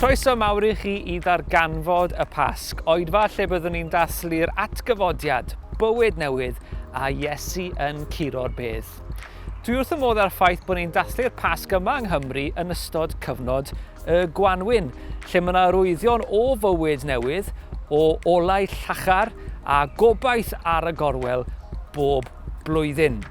Croeso mawr i chi i ddarganfod y Pasg, oedfa lle byddwn ni'n dathlu'r atgyfodiad, bywyd newydd a Iesu yn curo'r bedd. Dwi wrth fy modd â'r ffaith bod ni'n dathlu'r Pasg yma yng Nghymru yn ystod cyfnod y Gwanwyn, lle mae yna rwyddion o fywyd newydd, o olau llachar a gobaith ar y gorwel bob blwyddyn.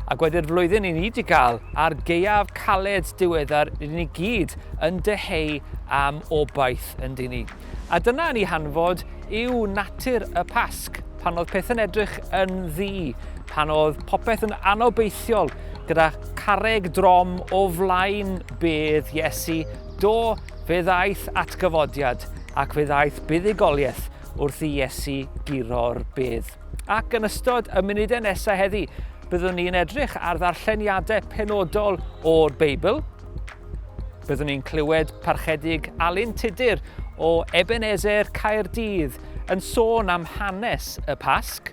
A gwedi'r flwyddyn i ni wedi cael a'r geiaf caled diweddar rydyn ni gyd yn dyheu am obaith yn dyn ni. A dyna yn ei hanfod yw natur y Pasg, pan oedd pethau'n edrych yn ddi, pan oedd popeth yn anobeithiol, gyda carreg drom o flaen bedd Iesu, do, fe ddaeth atgyfodiad ac fe ddaeth buddugoliaeth wrth i Iesu guro'r bedd. Ac yn ystod y munudau nesaf heddi, byddwn ni'n edrych ar ddarlleniadau penodol o'r Beibl, Byddwn ni'n clywed parchedig Alun Tudur o Ebenezer Caerdydd yn sôn am hanes y Pasg.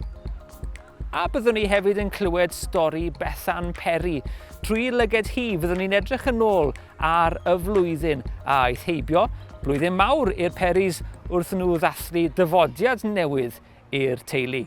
A byddwn ni hefyd yn clywed stori Bethan Perry. Trwy lyged hi, fyddwn ni'n edrych yn ôl ar y flwyddyn a aeth heibio, blwyddyn mawr i'r Perrys wrth nhw ddathlu dyfodiad newydd i'r teulu.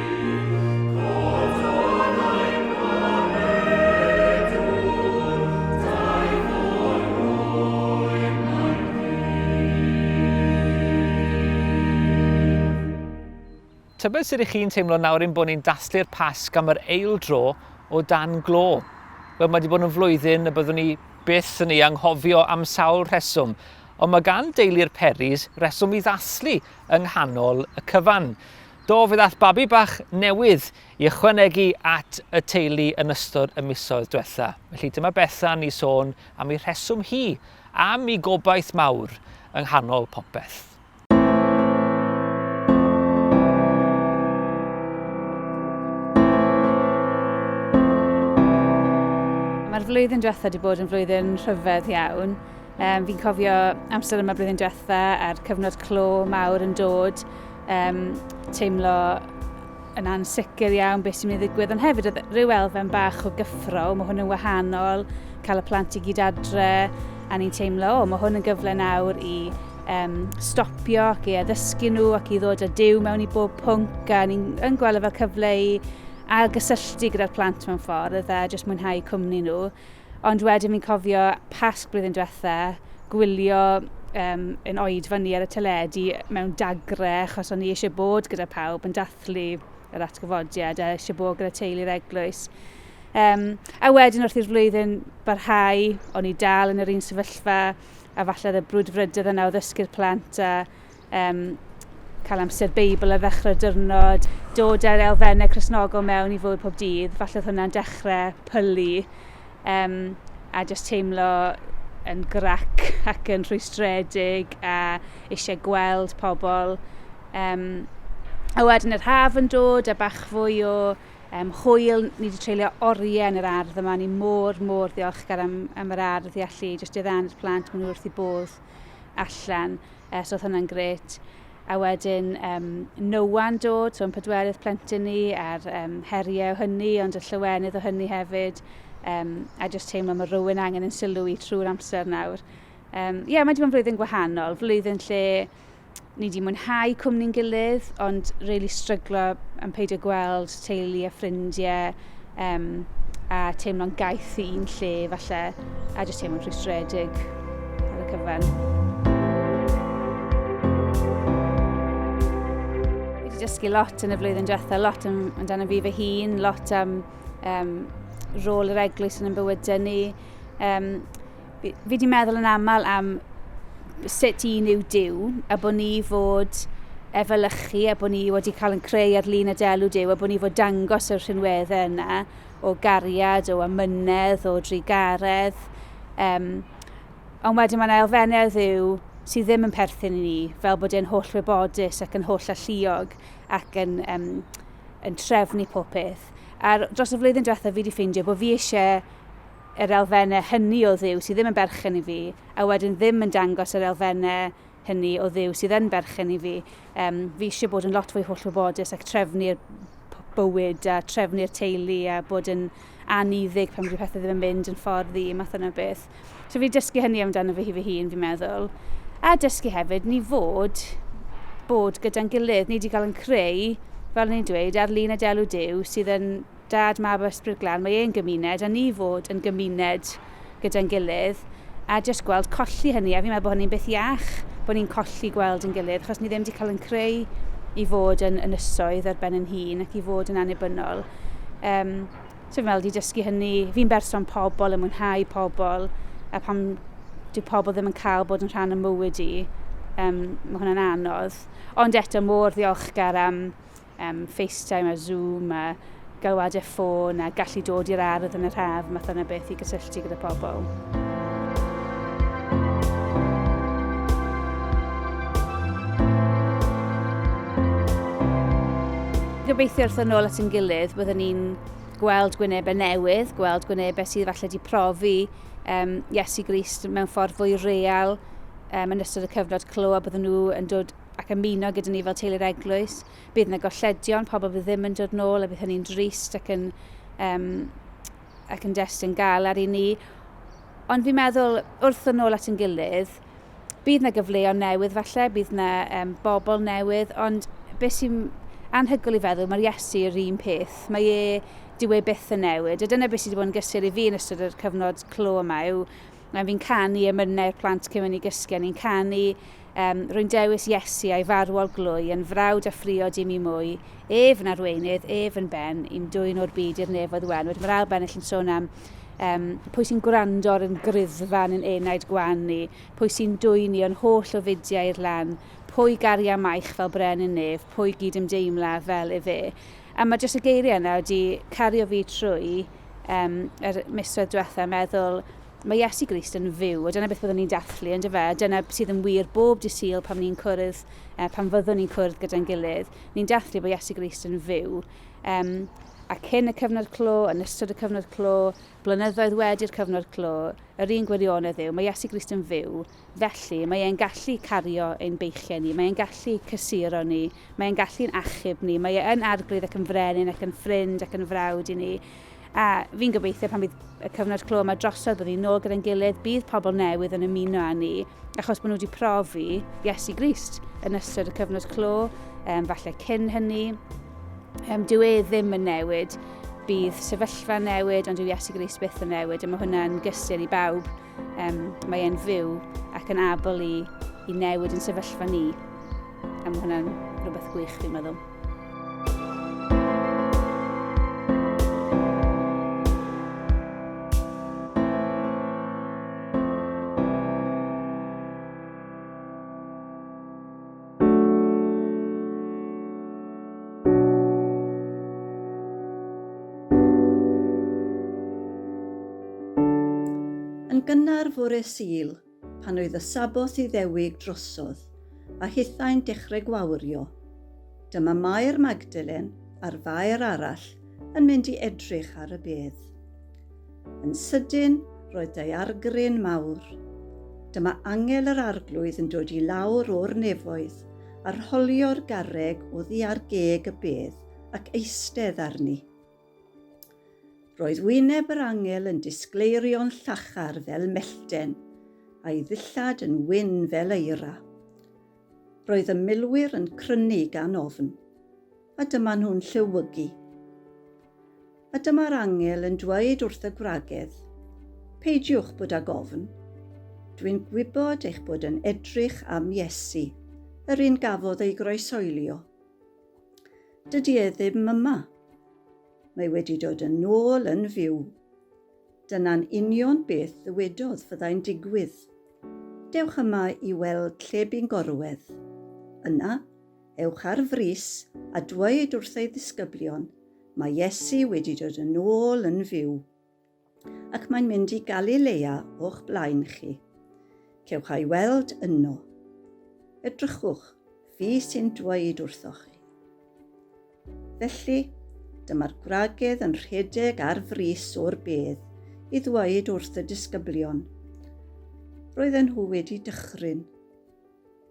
Tybed sut 'y chi'n teimlo nawr ein bod ni'n dathlu'r Pasg am yr eil dro o dan glo? Wel, mae wedi bod yn flwyddyn y byddwn ni byth yn ei anghofio am sawl rheswm, ond mae gan deulu'r Peris reswm i ddathlu yng nghanol y cyfan. Do, fe ddaeth babi bach newydd i ychwanegu at y teulu yn ystod y misoedd diwetha', felly dyma Bethan i sôn am ei rheswm hi am 'i gobaith mawr yng nghanol popeth. Mae'r flwyddyn diwetha' 'di bod yn flwyddyn rhyfedd iawn. Um, fi'n cofio amser yma blwyddyn diwetha a'r cyfnod clo mawr yn dod, um, teimlo yn ansicr iawn beth sy'n mynd i ddigwydd, ond hefyd oedd rhyw elfen bach o gyffro, mae hwn yn wahanol, cael y plant i gyd adre, a ni'n teimlo, o, mae hwn yn gyfle nawr i um, stopio ac i addysgu nhw ac i ddod â diw mewn i bob pwnc, a ni'n gweld e fel cyfle i ailgysylltu gyda'r plant mewn ffordd a jyst mwynhau cwmni nhw. Ond wedyn fi'n cofio Pasg blwyddyn diwetha, gwylio um, yn oed fyny ar y teledu mewn dagre, achos o'n i eisiau bod gyda pawb yn dathlu yr atgyfodiad a eisiau bod gyda teulu'r eglwys. Um, a wedyn wrth i'r flwyddyn barhau, o'n i dal yn yr un sefyllfa, a falle oedd y brwdfrydydd yna o ddysgu'r plant a Yym, cael amser Beibl ar ddechrau'r diwrnod, dod â'r elfennau Cristnogol mewn i fywyd pob dydd, falle oedd hwnna'n dechrau pylu, um, a jyst teimlo yn grac ac yn rhwystredig a eisiau gweld pobl. Um, a wedyn yr haf yn dod a bach fwy o um, hwyl, ni wedi treulio oriau yn yr ardd yma, ni mor, mor ddiolchgar am, am yr ardd i allu jyst i ddan i'r plant, maen nhw wrth i bodd. allan, so oedd hwnna'n gret. A wedyn um, Nowa'n dod, so yn pedwerydd plentyn ni, a'r um, heriau o hynny, ond y llywenydd o hynny hefyd. Um, a jyst teimlo mae rhywun angen yn sylw i trwy'r amser nawr. Ie, um, yeah, mae wedi bod yn flwyddyn gwahanol, flwyddyn lle ni wedi mwynhau cwmni'n gilydd, ond really stryglo am peidio gweld teulu a ffrindiau um, a teimlo'n gaeth i un lle falle, a jyst teimlo'n rhwystredig ar y cyfan. wedi dysgu lot yn y flwyddyn diwetha, lot am, amdano fi fy hun, lot am um, rôl yr eglwys yn y bywydau ni. Um, Fi, fi di meddwl yn aml am sut un yw Dyw, a bod ni fod efelychu, a bod ni wedi cael yn creu ar lun y delw Dyw, a bod ni fod dangos y rhinweddau yna o gariad, o amynedd, o drugaredd. Um, ond wedyn mae'n elfennau o ddiw sydd ddim yn perthyn i ni, fel bod e'n holl wybodus ac yn holl alluog ac yn, um, yn trefnu pob peth. A dros y flwyddyn diwethaf fi wedi ffeindio bod fi eisiau yr elfennau hynny o Dduw sydd ddim yn berchen i fi, a wedyn ddim yn dangos yr elfennau hynny o Dduw sydd yn berchen i fi. Um, fi eisiau bod yn lot fwy hollwybodus ac trefnu'r bywyd a trefnu'r teulu a bod yn aniddig pan wedi pethau ddim yn mynd yn ffordd i, math yna beth. So fi dysgu hynny amdano fi hi fy hun, fi'n meddwl. A dysgu hefyd ni fod bod gyda'n gilydd, ni wedi cael yn creu, fel ni'n dweud, ar lun y delw Dyw sydd yn Dad, Mab a Ysbryd Glân, mae e'n gymuned, a ni fod yn gymuned gyda'n gilydd, a jyst gweld colli hynny, a fi'n meddwl bod hynny'n beth iach, bod ni'n colli gweld ein gilydd, achos ni ddim 'di cael ein creu i fod yn ynysoedd ar ben ein hun, ac i fod yn annibynnol. Yym, so fi'n meddwl 'di dysgu hynny, fi'n berson pobl, yn mwynhau pobl, a pan dyw pobl ddim yn cael bod yn rhan o mywyd i, um, mae hwnna'n anodd. Ond eto, mor ddiolchgar am Yym, FaceTime a Zoom a galwadau ffôn a gallu dod i'r ardd yn yr haf, math yna beth i gysylltu gyda pobl. gobeithio wrth yn ôl at yn gilydd, byddwn ni'n gweld gwynebau newydd, gweld gwynebau sydd falle wedi profi um, Iesu Grist mewn ffordd fwy real um, yn ystod y cyfnod clo a byddwn nhw yn dod ac ymuno gyda ni fel teulu'r eglwys. Bydd yna golledion, pobl fydd ddim yn dod nôl a bydd hynny'n drist ac yn, um, ac yn destyn galar i ni. Ond fi'n meddwl, wrth yn ôl at yn gilydd, bydd yna gyfleoedd newydd falle, bydd yna um, bobl newydd, ond beth sy'n anhygol i feddwl, mae'r Iesu yr un peth. Mae e, dyw e byth yn newid. A dyna beth sydd wedi bod yn gysur i fi yn ystod yr cyfnod clo yma yw, Mae fi'n canu emynau'r plant cyn mynd i gysgu a ni'n canu um, Rwy'n dewis Iesu a'i farwol glwy yn frawd a ffriod i mi mwy, ef yn arweinydd, ef yn ben, i'n dwy'n o'r byd i'r nefoedd wen. Wedyn mae'r ail bennill yn sôn am um, pwy sy'n gwrando ar yn gryddfan yn enaid gwan ni, pwy sy'n dwy'n ni o'n holl o fudiau i'r lan, pwy garia maich fel bren yn nef, pwy gyd ymdeimla fel efe. A mae jyst y geiriau yna wedi cario fi trwy um, yr misoedd diwetha, meddwl, mae Iesu Grist yn fyw, a dyna beth byddwn ni'n dathlu, ynddo fe, a dyna sydd yn wir bob di syl pan ni'n cwrdd, uh, pan fyddwn ni'n cwrdd gyda'n gilydd, ni'n dathlu bod Iesu Grist yn fyw. Um, a cyn y cyfnod clo, yn ystod y cyfnod clo, blynyddoedd wedi'r cyfnod clo, yr un gwirionedd yw, mae Iesu Grist yn fyw, Felly, mae e'n gallu cario ein beichiau ni, mae e'n gallu cysuro ni, mae e'n gallu'n achub ni, mae e yn arglwydd ac yn frenin ac yn ffrind ac yn frawd i ni. A fi'n gobeithio pan bydd y cyfnod clo yma drosodd bod ni'n nôl gyda'n gilydd, bydd pobl newydd yn ymuno â ni, achos bod nhw wedi profi Iesu Grist yn ystod y cyfnod clo, um, falle cyn hynny. Um, dyw e ddim yn newid, bydd sefyllfa newid, ond dyw Iesu Grist byth yn newid, a mae hwnna'n gysur i bawb. Um, mae e'n fyw ac yn abl i, i newid yn sefyllfa ni. A mae hwnna'n rhywbeth gwych, fi'n meddwl. Yn gynnar fore Sul, pan oedd y Saboth i ddewig drosodd, a hithau'n dechrau gwawrio, dyma Mair Magdalen a'r fair arall yn mynd i edrych ar y bedd. Yn sydyn, roedd daeargryn mawr. Dyma angel yr arglwydd yn dod i lawr o'r nefoedd, a rholio'r garreg oddi ar geg y bedd, ac eistedd arni. Roedd wyneb yr angel yn disgleirio'n llachar fel mellten, a'i ddillad yn wyn fel eira. Roedd y milwyr yn crynu gan ofn. A dyma nhw'n llewygu. A dyma'r angel yn dweud wrth y gwragedd, Peidiwch bod ag ofn. Dwi'n gwybod eich bod yn edrych am Iesu, yr un gafodd ei groesoelio. Dydy e ddim yma. Mae wedi dod yn ôl yn fyw. Dyna'n union beth ddywedodd fyddai'n digwydd. Dewch yma i weld lle bu'n gorwedd. Yna, Ewch ar frys a dweud wrth ei ddisgyblion, Mae Iesu wedi dod yn ôl yn fyw, ac mae'n mynd i Galilea o'ch blaen chi. Cewch a'i weld yno. Edrychwch, fi sy'n dweud wrthoch chi. Felly, dyma'r gwragedd yn rhedeg ar frys o'r bedd i ddweud wrth y disgyblion. Roedden nhw wedi dychryn.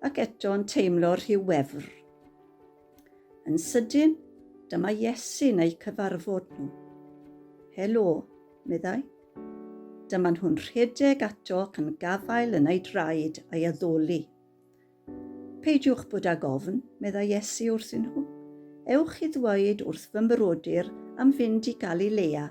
Ac eto yn teimlo rhyw wefr. Yn sydyn, dyma Iesu'n eu cyfarfod nhw. Helo, meddai. Dyma nhw'n rhedeg ato ac yn gafael yn ei draed a'i addoli. Peidiwch bod ag ofn, meddai Iesu wrthyn nhw. Ewch i ddweud wrth fy mrodyr am fynd i Galilea.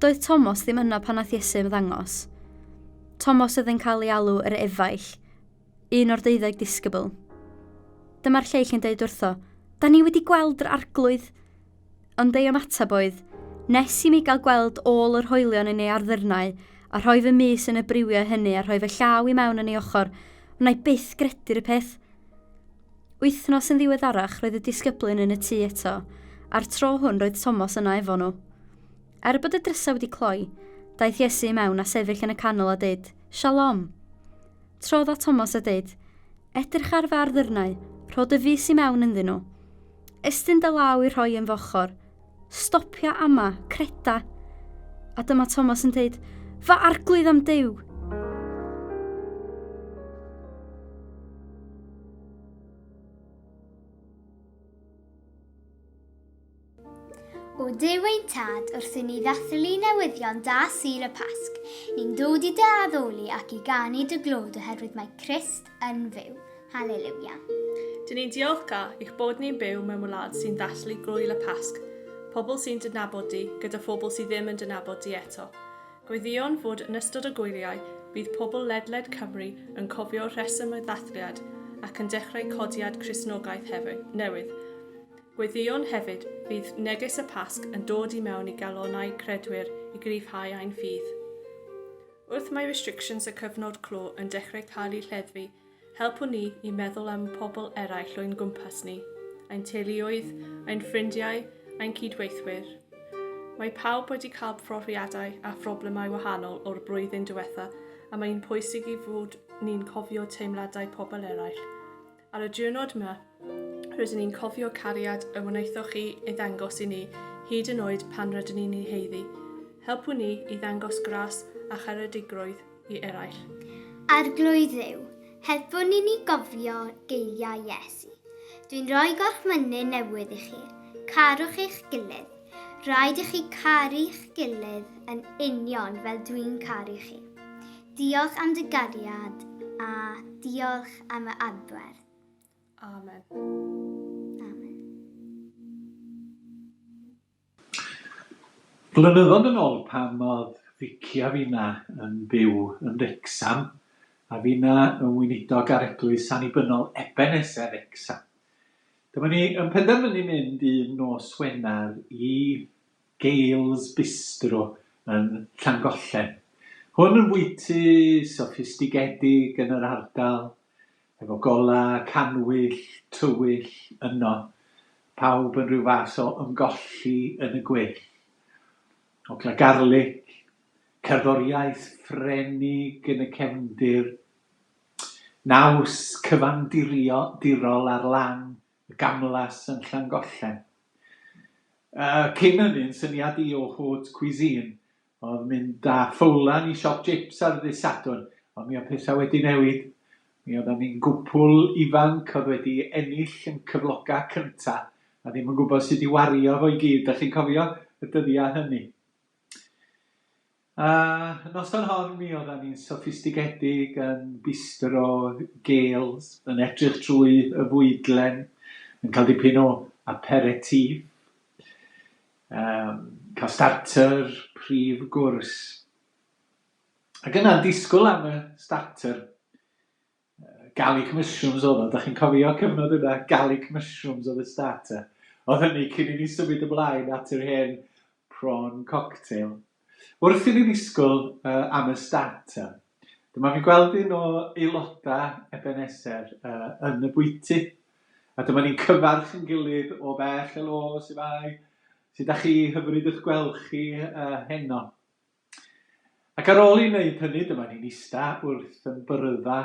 Doedd Tomos ddim yno pan nath Iesu ymddangos. Tomos oedd yn cael ei alw yr efaill, un o'r deuddeg disgybl. Dyma'r lleill yn deud wrtho, Da ni wedi gweld yr arglwydd! Ond ei ymateb oedd, Nes i mi gael gweld ôl yr hoelion yn ei arddyrnau, a rhoi fy mys yn y briwiau hynny a rhoi fy llaw i mewn yn ei ochr, wna i byth gredu'r peth. Wythnos yn ddiweddarach roedd y disgyblyn yn y tŷ eto, a'r tro hwn roedd Tomos yna efo nhw. Er bod y drysau wedi cloi, daeth Iesu i mewn a sefyll yn y canol a dweud, Shalom! Trodd at Tomos a dweud, Edrych ar fy arddyrnau, rho dy fys i mewn ynddyn nhw. Estyn dy law i rhoi yn fy ochr. Stopia ama, creda! A dyma Thomas yn deud, Fy arglwydd am Duw! O Duw ein Tad, wrth i ni ddathlu newyddion da Sir y Pasg, ni'n dod i dy addoli ac i ganu dy glod oherwydd mae Christ yn fyw. Haleluia. Dyn ni'n diolchgar i'ch bod ni'n byw mewn wlad sy'n ddathlu gwyl y Pasg, pobl sy'n dynabod di gyda phobl sydd ddim yn dynabod di eto. Gweddïwn fod yn ystod y gwyliau bydd pobl ledled Cymru yn cofio'r rheswm y ddathliad ac yn dechrau codiad Cristnogaeth hefyd, newydd. Gweddïwn hefyd, bydd neges y Pasg yn dod i mewn i galonnau credwyr i gryfhau ein ffydd. Wrth mae restrictions y cyfnod clo yn dechrau cael eu lleddfu, helpwn ni i meddwl am pobl eraill o'n gwmpas ni, ein teuluoedd, ein ffrindiau, ein cyd-weithwyr. Mae pawb wedi cael profiadau a phroblemau wahanol o'r blwyddyn diwetha a mae'n pwysig i fod ni'n cofio teimladau pobl eraill. Ar y diwrnod 'ma, rydyn ni'n cofio cariad y wnaethoch chi ei ddangos i ni hyd yn oed pan rydyn ni'n ei haeddu. Helpu ni i ddangos gras a charedigrwydd i eraill. Arglwydd Dduw, helpu ni i gofio geiriau Iesu, Dwi'n rhoi gorchmynydd newydd i chi, carwch eich gilydd. Rhaid i chi caru'ch gilydd yn union fel dwi'n caru chi. Diolch am dy gariad a diolch am y adferth. Amen. Amen. Blynyddoedd yn ôl pan oedd Vicky a finna yn byw yn Wrecsam, a finna yn weinidog ar Eglwys Annibynnol Ebeneser Wrecsam. Dyma ni yn penderfynu mynd un nos Wener i Gail's Bistro yn Llangollen. Hwn yn fwyty soffistigedig yn yr ardal, efo gola cannwyll tywyll yno, pawb yn rhyw fath o ymgolli yn y gweill. Ogla garlic, cerddoriaeth Ffrenig yn y cefndir, naws cyfandirol ar lan Y Gamlas yn Llangollen. Yy, cyn ynny'n syniad i o haute cuisine oedd mynd â ffowlan i siop jips ar ddydd Sadwrn, ond mi oedd pethau wedi newid. Mi oeddan ni'n gwpwl ifanc oedd wedi ennill yn cyfloga cynta a ddim yn gwybod sut i wario fo i gyd, dach chi'n cofio y dyddia hynny? A noson hon mi oddan ni'n soffistigedig yn bistro gêls, yn edrych trwy y fwydlen, yn cael dipyn o aperitif, cael starter, prif gwrs. Ac yna'n disgwyl am y starter, Garlic mushrooms oedd o, dach chi'n cofio cyfnod yna? Garlic mushrooms oedd y starter. Oedd hynny cyn i ni symud ymlaen at yr hen prawn cocktail. Wrth i ni ddisgwyl uh, am y starter, dyma fi'n gweld un o aelodau Ebenezer uh, yn y bwyty. A dyma ni'n cyfarch yn gilydd o bell, helo, sy'n fai, sy'n da chi, hyfryd ych gweld chi uh, heno. Ac ar ôl i wneud hynny, dyma ni'n ista wrth yn byrydda,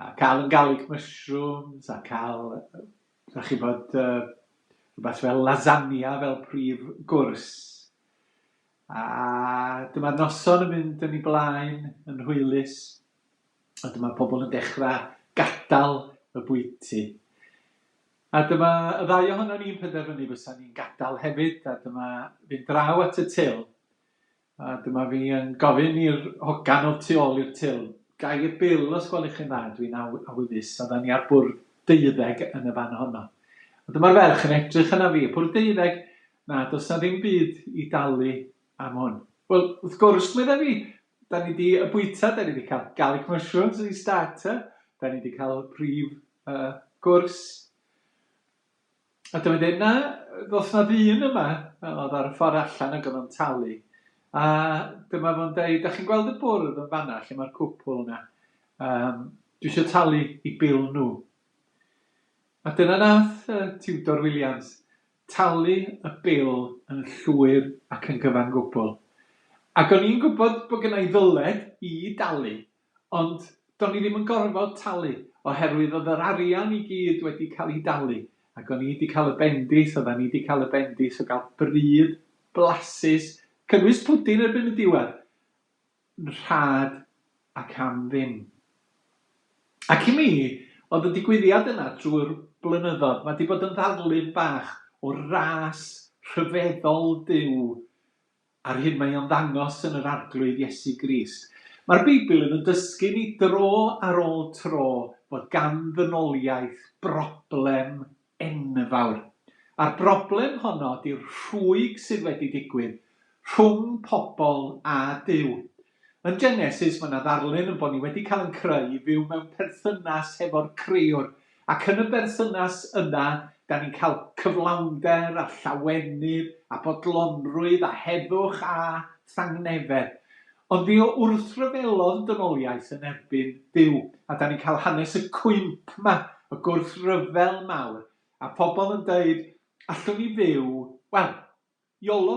a cael yn garlic mushrooms, a cael, da chi bod, uh, rhywbeth fel lasagna fel prif gwrs. A dyma'r noson yn mynd yn ei blaen yn hwylus, a dyma pobl yn dechrau gadael y bwyty. A dyma y ddau ohonon ni'n penderfynu fysa ni'n gadael hefyd a dyma fi'n draw at y til a dyma fi yn gofyn i'r hogan o'r tu ôl i'r til, Gai y bil os gwelwch chi'n dda, dwi'n awyddus, oeddan ni ar bwrdd deuddeg yn y fan honno. A dyma'r ferch yn edrych yna fi, bwrdd deuddeg? Na, does na ddim byd i dalu am hwn. Wel, wrth gwrs, medda fi, Da ni wedi bwyta, da ni wedi cael garlic mushrooms yn ei starter, da ni wedi cael prif uh, gwrs. A dyma dweud, na, ddos na ddyn yma, oedd ar y ffordd allan ac oedd o'n talu. A dyma fo'n dweud, da chi'n gweld y bwrdd yn fanna lle mae'r cwpl yna? Um, dwi eisiau talu i bil nhw. A dyna nath uh, Tudor Williams. talu y bil yn llwyr ac yn gyfan gwbl. Ac o'n i'n gwybod bod gynna i ddyled i dalu, ond do'n i ddim yn gorfod talu, oherwydd oedd yr arian i gyd wedi cael ei dalu, ac o'n i 'di cael y bendith, oeddan ni 'di cael y bendith o gael bryd blasus, cynnwys pwdin erbyn y diwedd! yn rhad ac am ddim. Ac i mi, oedd y digwyddiad yna drwy'r blynyddoedd, mae 'di bod yn ddarlun bach o ras rhyfeddol Duw a'r hyn mae o'n ddangos yn yr Arglwydd Iesu Grist. Mae'r Beibl yn yn dysgu ni dro ar ôl tro fod gan ddynoliaeth broblem enfawr. A'r broblem honno ydy'r rhwyg sydd wedi digwydd rhwng pobl a Duw. Yn Genesis, mae yna ddarlun yn bod ni wedi cael yn creu i fyw mewn perthynas hefo'r Crëwr, ac yn y berthynas yna, da ni'n cael cyflawnder a llawenydd a bodlonrwydd a heddwch a thangnefedd. Ond fi o wrthryfelodd dynoliaeth yn erbyn Duw a da ni'n cael hanes y cwymp ma, y gwrthryfel mawr, a phobl yn deud allwn ni fyw, wel, Yolo,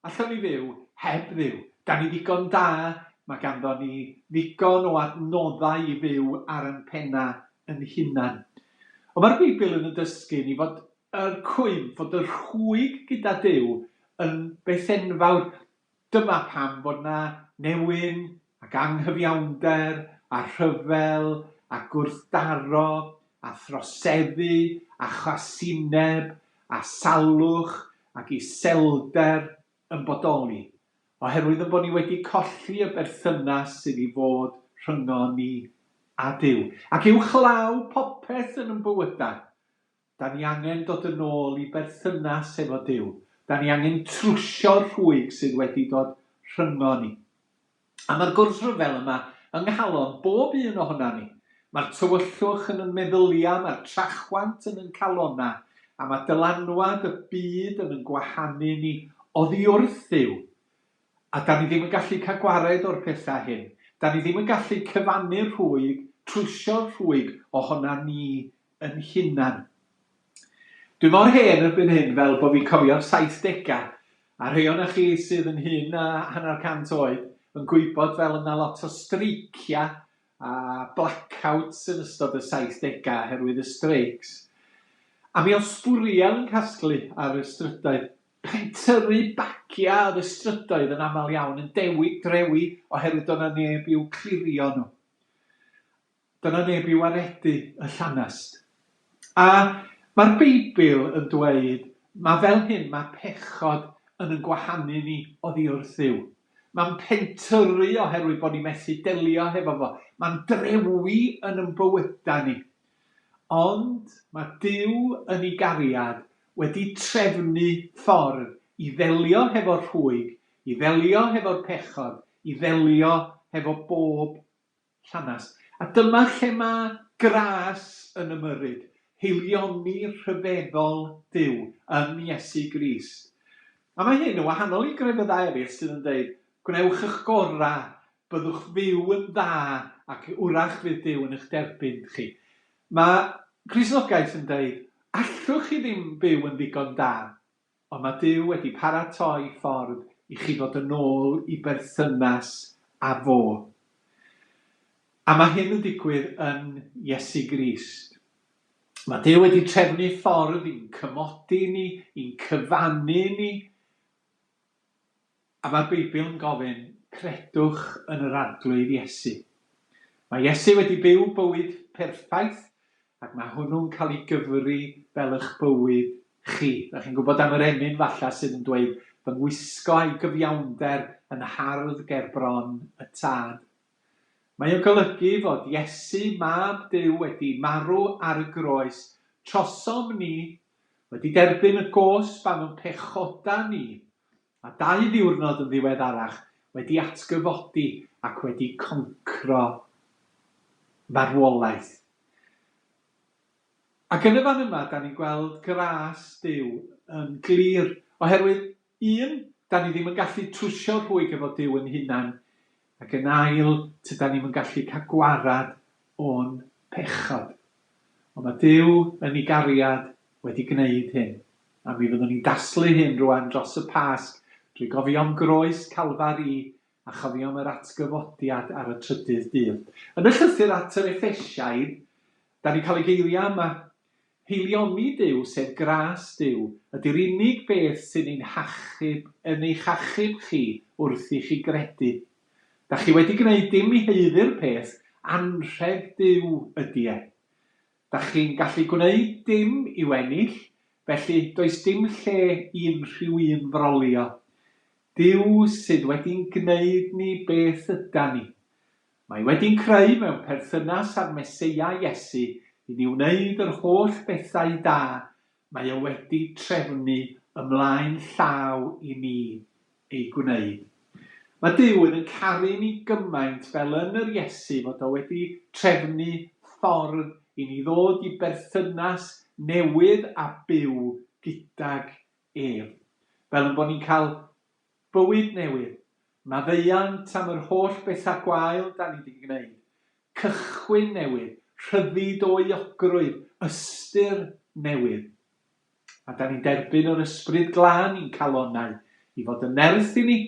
allwn ni fyw heb Dduw, da ni ddigon da, mae ganddo ni ddigon o adnoddau i fyw ar yn pennau yn hunan. Ond mae'r Beibl yn yn dysgu ni fod yr cwymp, fod y rhwyg gyda Duw yn beth enfawr, Dyma pam fod yna newyn ac anghyfiawnder a rhyfel a gwrthdaro a throseddu a chasineb a salwch ac iselder yn bodoli, oherwydd ein bod ni wedi colli y berthynas sydd i fod rhyngon ni a Duw. Ac uwchlaw popeth yn ein bywydau, Da ni angen dod yn ôl i berthynas efo Duw. Da ni angen trwsio'r rhwyg sydd wedi dod rhyngon ni. A mae'r gwrthryfel yma yng nghalon bob un ohonan ni. Mae'r tywyllwch yn yn meddyliau, mae'r trachwant yn yn calonau, a mae dylanwad y byd yn yn gwahanu ni oddi wrth Dduw. A da ni ddim yn gallu cael gwared o'r pethau hyn. Da ni ddim yn gallu cyfannu'r rhwyg, trwsio'r rhwyg ohonan ni yn hunan. Dwi mor hen erbyn hyn fel bo fi'n cofio'r saithdega, a rhei ohonoch chi sydd yn hŷn na hanner cant oed yn gwybod fel y na lot o streicia a blackouts yn ystod y saithdega oherwydd y streics. A mi o'dd sbwriel yn casglu ar y strydoedd. Chi'n tyrru bagia ar y strydoedd yn amal iawn yn dewi drewi oherwydd do' na neb i'w clirio nhw. Dyna neb i waredu y llanast. A mae'r Beibl yn dweud, mae fel hyn, mae pechod yn yn gwahanu ni oddi wrth Dduw. Mae'n pentyrru oherwydd bod ni methu delio hefo fo. Mae'n drewi yn yn bywydau ni. Ond mae Duw yn ei gariad wedi trefnu ffordd i ddelio hefo'r rhwyg, i ddelio hefo'r pechod, i ddelio hefo bob Llanast. A dyma lle mae gras yn ymyrryd, haelioni rhyfeddol Duw yn Iesu Grist. A mae hyn yn wahanol i grefyddau eraill sydd yn dweud, gwnewch y'ch gorau, byddwch fyw yn dda ac wrach fydd Duw yn eich derbyn chi. Mae Cristnogaeth yn dweud, allwch chi ddim byw yn ddigon da, Ond mae Duw wedi paratoi ffordd i chi ddod yn ôl i berthynas â Fo. A mae hyn yn digwydd yn Iesu Grist. Mae Duw wedi trefnu ffordd i'n cymodi ni, i'n cyfannu ni, A mae'r Beibl yn gofyn, Credwch yn yr Arglwydd Iesu. Mae Iesu wedi byw bywyd perffaith ac mae hwnnw'n cael ei gyfri fel eich bywyd chi. Dach chi'n gwybod am yr emyn falla sydd yn dweud, Fy ngwisgo a'i gyfiawnder yn hardd ger bron y Tad. Mae o'n golygu fod Iesu, Mab Duw, wedi marw ar y groes trosom ni, wedi derbyn y gosb am ein pechodau ni, Mae dau ddiwrnod yn ddiweddarach wedi atgyfodi ac wedi concro marwolaeth. Ac yn y fan yma, da ni'n gweld gras Duw yn glir. Oherwydd, un, da ni ddim yn gallu trwsio rhwyg efo Duw yn hunan, Ac yn ail, tydan ni'm yn gallu cael gwarad o'n pechod. Ond mae Duw yn ei gariad wedi gwneud hyn, a mi fyddwn ni'n daslu hyn rwan dros y Pasg, drwy gofio'm groes Calfari a chofio'm yr atgyfodiad ar y trydydd dydd. Yn y llythyr at yr Effesiaid, 'dan ni'n cael y geiriau yma, Heiliomi Duw, sef gras Duw, ydy'r unig beth sy'n ein hachub, yn eich achub chi, wrth i chi gredu. Da chi wedi gwneud dim i haeddu'r peth, anrheg Duw ydy e. Da chi'n gallu gwneud dim i'w ennill, felly does dim lle i unrhyw un frolio. Duw sydd wedi'n gwneud ni beth ydan ni. Mae wedi'n creu mewn perthynas â'r Meseia Iesu i ni wneud yr holl bethau da mae o wedi trefnu ymlaen llaw i ni eu gwneud. Mae Duw yn yn caru ni gymaint fel yn yr Iesu fod o wedi trefnu ffordd i ni ddod i berthynas newydd a byw gydag ef, fel yn bod ni'n cael Bywyd newydd. Maddeuant am yr holl betha gwael 'da ni 'di gneud. Cychwyn newydd. Rhyddid o euogrwydd. Ystyr newydd. A 'da ni'n derbyn yr Ysbryd Glân i'n calonnau, i fod yn nerth i ni,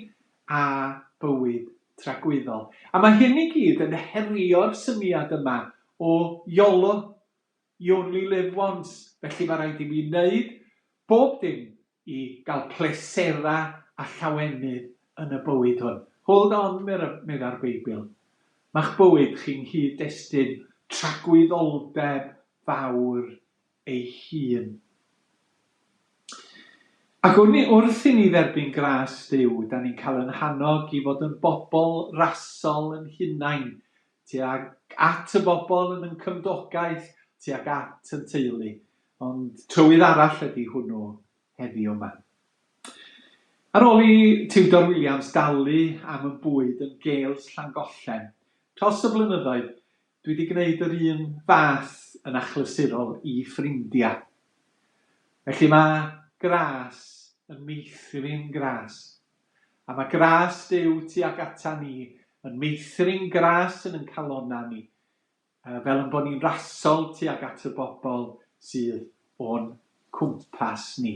a bywyd tragwyddol. A mae hyn i gyd yn herio'r syniad yma o Yolo, You Only Live Once, felly mae rhaid i mi wneud bob dim i gael pleserau a llawenydd yn y bywyd hwn. Hold on, meddai'r Beibl. Mae'ch bywyd chi'n nghyd-destun tragwyddoldeb fawr ei hun. Ac wrth i ni dderbyn gras Duw, da ni'n cael yn hannog i fod yn bobl rasol yn hunain, tuag at y bobl yn ein cymdogaeth, tuag at yn teulu. Ond trywydd arall ydi hwnnw heddiw yma. Ar ôl i Tiwdor Williams dalu am y bwyd yn Gales Llangollen dros y blynyddoedd, dwi 'di gneud yr un fath yn achlysurol i ffrindia. Felly ma' gras yn meithrin gras. A ma' gras Duw tuag ata ni yn meithrin gras yn yn calonna ni. fel ein bod ni'n rasol tuag at y bobl sydd o'n cwmpas ni.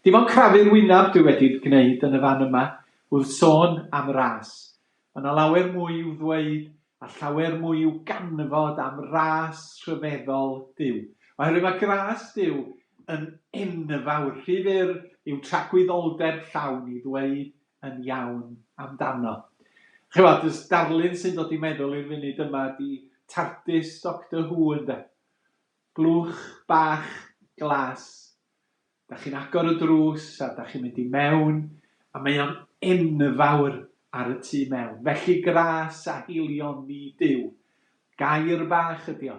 Dim ond crafu'r wyneb dwi wedi gwneud yn y fan yma wrth sôn am ras. Mae 'na lawer mwy i'w ddweud a llawer mwy i'w ganfod am ras rhyfeddol Duw. Oherwydd mae gras Duw yn enfawr, rhy fyr i'w tragwyddoldeb llawn i ddweud yn iawn amdano. Ch'mod, y darlun sy'n dod i meddwl i'r funud yma ydi Tardis Doctor Who ynde? Blwch bach glas, da chi'n agor y drws a da chi'n mynd i mewn a mae o'n enfawr ar y tu mewn, felly gras a heullion ni Duw. Gair bach ydi o,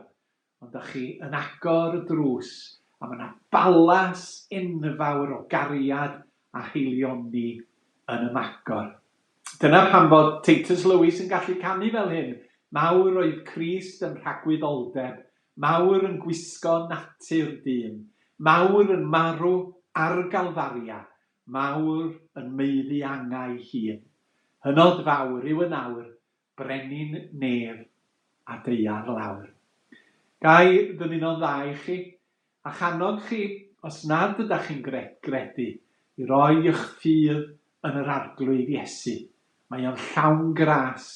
Ond dach chi yn agor y drws a ma' 'na balas enfawr o gariad a haelioni yn ymagor. Dyna pam fod Titus Lewis yn gallu canu fel hyn, Mawr oedd Crist yn rhagwyddoldeb, mawr yn gwisgo natur dyn, mawr yn marw ar Galfaria, mawr yn maeddu angau hun. Hynod fawr yw yn awr, Brenin Nedd a Deiar Lawr. Ga i ddymuno'n dda i chi, a'ch annog chi, os nad ydach chi'n gret gredu, i roi y'ch ffydd yn yr Arglwydd Iesu. Mae o'n llawn gras.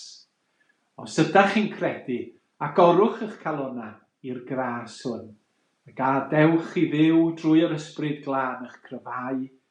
Os ydach chi'n credu, agorwch y'ch calonnau i'r gras hwn, a gadewch i Dduw drwy yr Ysbryd Glân y'ch cryfhau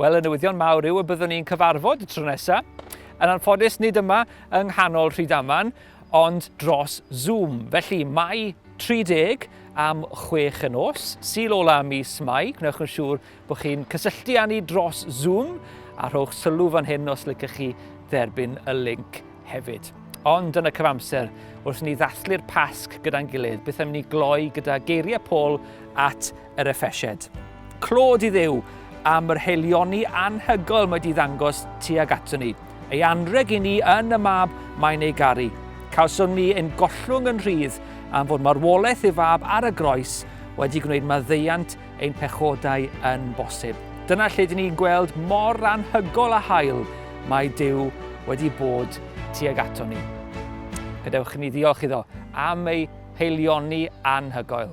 Wel, y newyddion mawr yw y byddwn ni'n cyfarfod y tro nesaf. Yn anffodus, nid yma yng nghanol Rhydaman, ond dros Zoom. Felly, mae 30 am 6 y nos, syl ola mis Mai. Gwnewch yn siŵr bod chi'n cysylltu â ni dros Zoom a rhowch sylw fan hyn os lycach chi dderbyn y link hefyd. Ond yn y cyfamser, wrth ni ddathlu'r Pasg gyda'n gilydd, beth am ni gloi gyda geiriau Paul at yr effesied. Clod i Dduw am yr haelioni anhygoel mae di ddangos tuag ato ni. Ei anreg i ni yn y mab mae'n ei garu. Cawsom ni ein gollwng yn rhydd am fod marwolaeth ei fab ar y groes wedi gwneud maddeuant ein pechodau yn bosib. Dyna lle dyn ni'n gweld mor anhygol a hael mae Dyw wedi bod tuag ato ni. Gadewch i ni ddiolch iddo am ei haelioni anhygoel.